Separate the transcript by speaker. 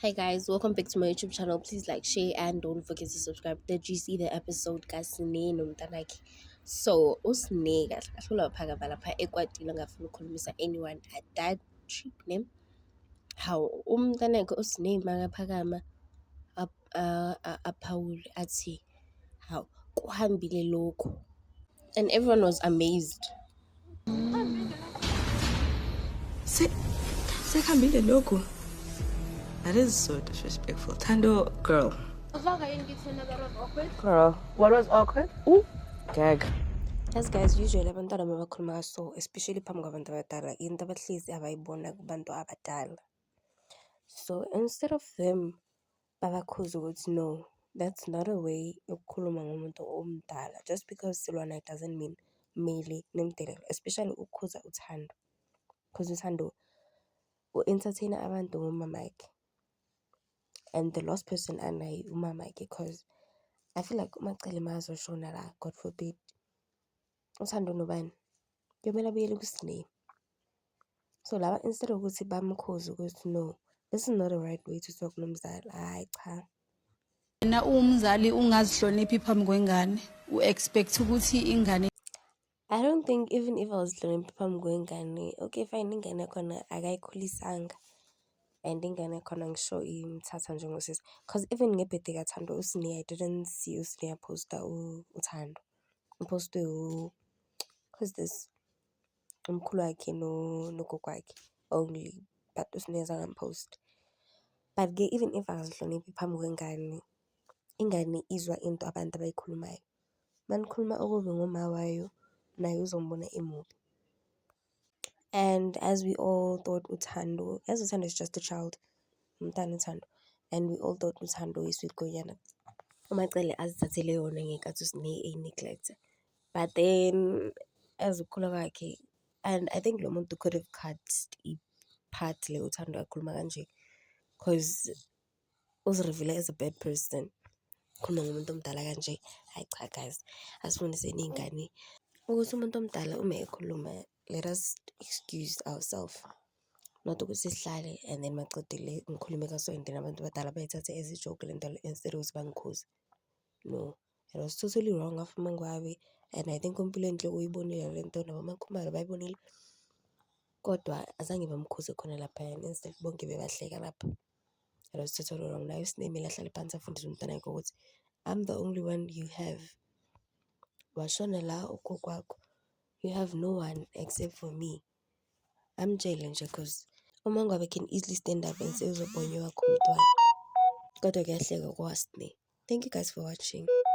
Speaker 1: Hi guys, welcome back to my YouTube channel. Please like, share, and don't forget to subscribe. Did you see the episode kaSine nomntanakhe? So uSine kahle kahle ulaphakamva lapha ekwatile ngafuna ukukhulumisa anyone at that trip ne. Hawu umntanakhe uSine makaphakama aphawule athi, hawu kuhambile lokhu and everyone was amazed.
Speaker 2: Se sekuhambile lokhu. That is so disrespectful. Thando girl. Girl, what was awkward? Ooh, gag. As guys
Speaker 1: usually abantwana uma bakhuluma so especially phambi kwabantu abadala into abahlezi abayibona kubantu abadala so instead of them babakhuze ukuthi no that's not a way yokukhuluma ngomuntu omdala just because silwa naye doesn't mean kumele nimdelele especially ukukhuza uThando cause uThando u-entertain-a abantu ngomamakhe and the last person anaye umamakhe cause I feel like uMacele makazosho nala God forbid uthando nobani? Kuyomele abuyele kuSne. So laba instead of ukuthi bamkhuze ukuthi no this is not the right way to talk nomzali hhayi cha wena
Speaker 3: uwumzali ungazihloniphi phambi kwengane u-expect ukuthi ingane I don't
Speaker 1: think even if I was learning phambi kwengane okay fine ingane yakhona akayikhulisanga and ingane yakhona ngisho imthatha njengosisi cause even ngebhede kathando usine I didn't see usine yaposta uthando uphostwe who is this umkhulu wakhe nogogo wakhe only but uSne azange amuphowuste. But-ke even if akazihloniphi phambi kwengane, ingane izwa into abantu abayikhulumayo. Uma nikhuluma okubi ngomah wayo naye uzombona emubi. And as we all thought uThando, yazi uThando is just a child, umntana uThando and we all thought uThando yi-sweet gwenyana, uMaCele azithathele yona ngenkathi eyi-neglect but then as ukukhula kwakhe and I think lo muntu could have cut i-part le uThando akhuluma kanje cause Uzirivile as a bad person khuluma ngomuntu omdala kanje, hhayi cha guys asifundiseni iy'ngane ukuthi umuntu omdala uma ekhuluma let us excuse ourself not ukuthi sihlale and then maqedile ngikhulume kaso and then abantu abadala bayithathe as a joke le nto le instead yokuthi bangikhuze. No, it was totally wrong of uMaNgwabe and I think uMpilonhle uyibonile le nto nabo oMaKhumalo bayibonile kodwa azange bamkhuze khona laphayana instead bonke bebahleka lapho. Yena uthi uthatha olulodwa nginaye uSinemile ahlale phansi afundise umntwana wakhe ukuthi I'm the only one you have. Washona la ugogo wakho. You have no one except for me. Amtshele nje cause uma ngabe can easily stand up and say uzobhonywa wakho umntwana. Kodwa kuyahlekwa kwa Sne. Thank you guys for watching.